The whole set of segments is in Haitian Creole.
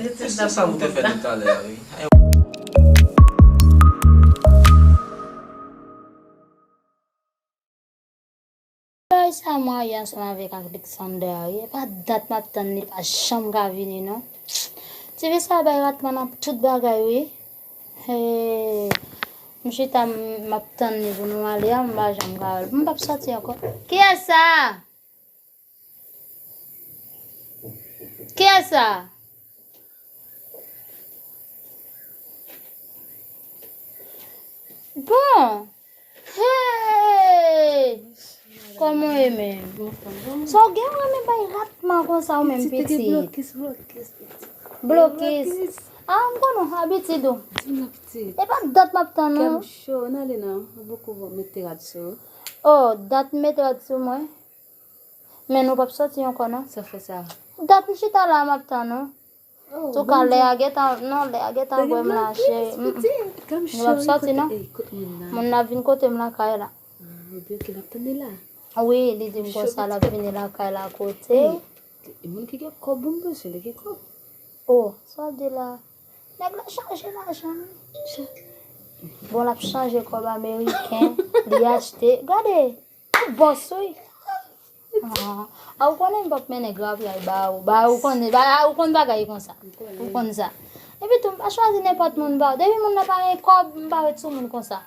Mwen se sa mwen te fè de talè a wi. Bagay sa marye ansanm avèk Alexander a wi epa dat map tann li pa janm ka vini non TV sa bay ratman nan tout bagay wi hee m chita map tann li pou nou ale a m pa janm ka wèl m pap sòti ankò kiyès sa. Kiyes sa? Bon. Hey! Koman e men? So gen wè men bay ratman kon sa ou men piti. Blokis, blokis, piti. Blokis. A, m kon nou habitid ou. Di m piti. E pa dat map tan nou. Kèm cho, nan le nan. Boko mete rad sou. Oh, dat mete rad sou mwen. Men nou pap soti ankò non. Sa fè sa. Dat m chita la map tann ou. Antouka lè a gentan non lè a gentan bwè m la cheri. Nou pap soti non. Moun nan ap vin kote m lakay la. Oubyen ok lap tann li la. Wi li di m konsa lap vini lakay la kote w. E moun ki gen kòb moun bezwen li gen kòb. O sa w ap di la. Nèg la chanje lajan wi. Bon lap chanje kòb ameriken li achte. Gade. Ou boss wi. Ah ou konnen m pap mennen grapyay ba ou. Ba ou konnen, ba ou konn bagay konsa. Ou konn sa. Epi tou m pa chwazi nenpòt moun ba ou. Depi moun nan pa gen kòb, m pa ret sou moun konsa.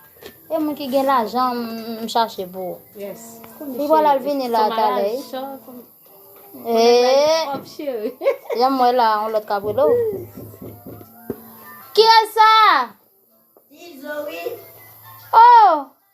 E moun ki gen lajan m chache pou ou. Yes. Li pral al vini la talè. Eee. Janm wè la on lòt kap rele ou. Kiyès sa? Izo wi. Oh!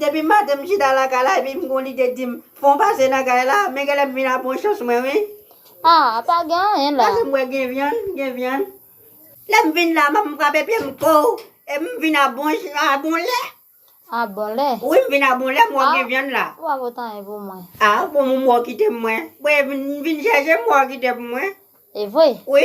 Depi maten m chita lakay la epi m gon lide dim fon pase nan kay la men genlè m vin a pran chans mwen wi. Ah pa gen anyen la. Pase m wè gen vyann gen vyann. Lè m vin la m frape pye m koo e m vin a bon jan a bon lè. A bon lè. Wi m vin a bon lè m wè gen vyann la. Ou pa pot anyen pou mwen. Ah bon m wè w kite m mwen. Bon e m vin chèche m wè w kite m mwen. Evre. Wi.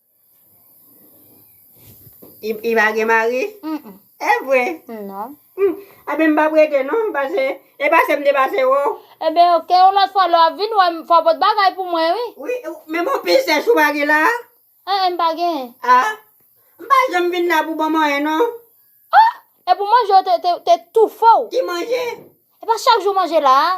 I, i pa gen mari? Mm. E vre? Non. Mm. A ben m pa prete non, pase, e pase m te pase wè w. E ben ok, yon lòt fwa lè w ap vin wè m, fò w pot bagay pou mwen wi. Wi, men bon pil sèch ou pa gen la a? E e, m pa gen. A, m pa janm vin la pou ban m anyen non. Oh! Epou manje w te, te, te toufe w. Ki manje? E pa chak jou w manje la a?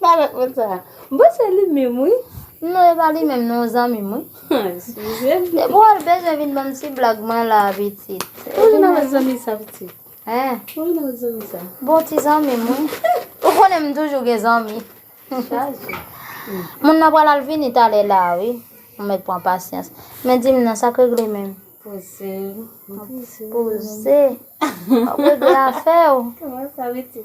Pale pou sa. M panse se li menm wi. Non e pa li menm non zanmim wi. Depi wal bezwen vin banm ti blag mwen la pitit. Ou vin avek zanmi sa pitit. Hein. Ou vin avek zanmi sa. Bon ti zanmim wi. Ou konnen m toujou gen zanmi. Chaje. Moun nan pral al vini talè la wi. Ou met pran pasyans. Men dim non sak regle menm. Poze. Poze. Wap regle afew. Koman sa pitit.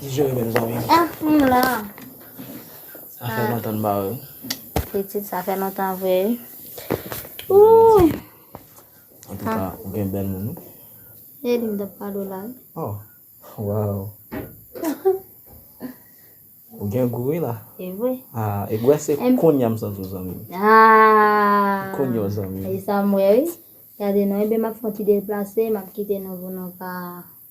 Di jere menm zanmi. Ah m la. Sa fè lontan n ba wè. Pitit sa fè lontan vre wi. Ouh. En tout cas, ou gen bel moun. E li m tap pale w la. Oh. Wow. Ou gen gou wi la. E vre. Ah, e gwe se konya m santi w zanmi. Ah. Konya w zanmi. E sa m wè wi. Gade non, e ben m ap fon ti deplase, m ap kite nou pou nou ka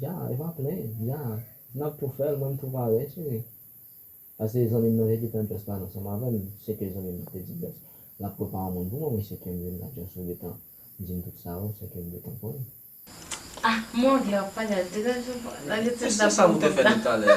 Ja e pa plen ja nap tou fèl mwen m tou pare cheri pase zanmim nan te gentan just pale ansanm avèm seke zanmim nan te di just lap prepa yon moun pou mwen mwen seke m vin la just ou gentan dim tout sa ou seke m gentan konnen. Ah morgue la wap pale a degaj ou pran nan li tout la banm kòb la.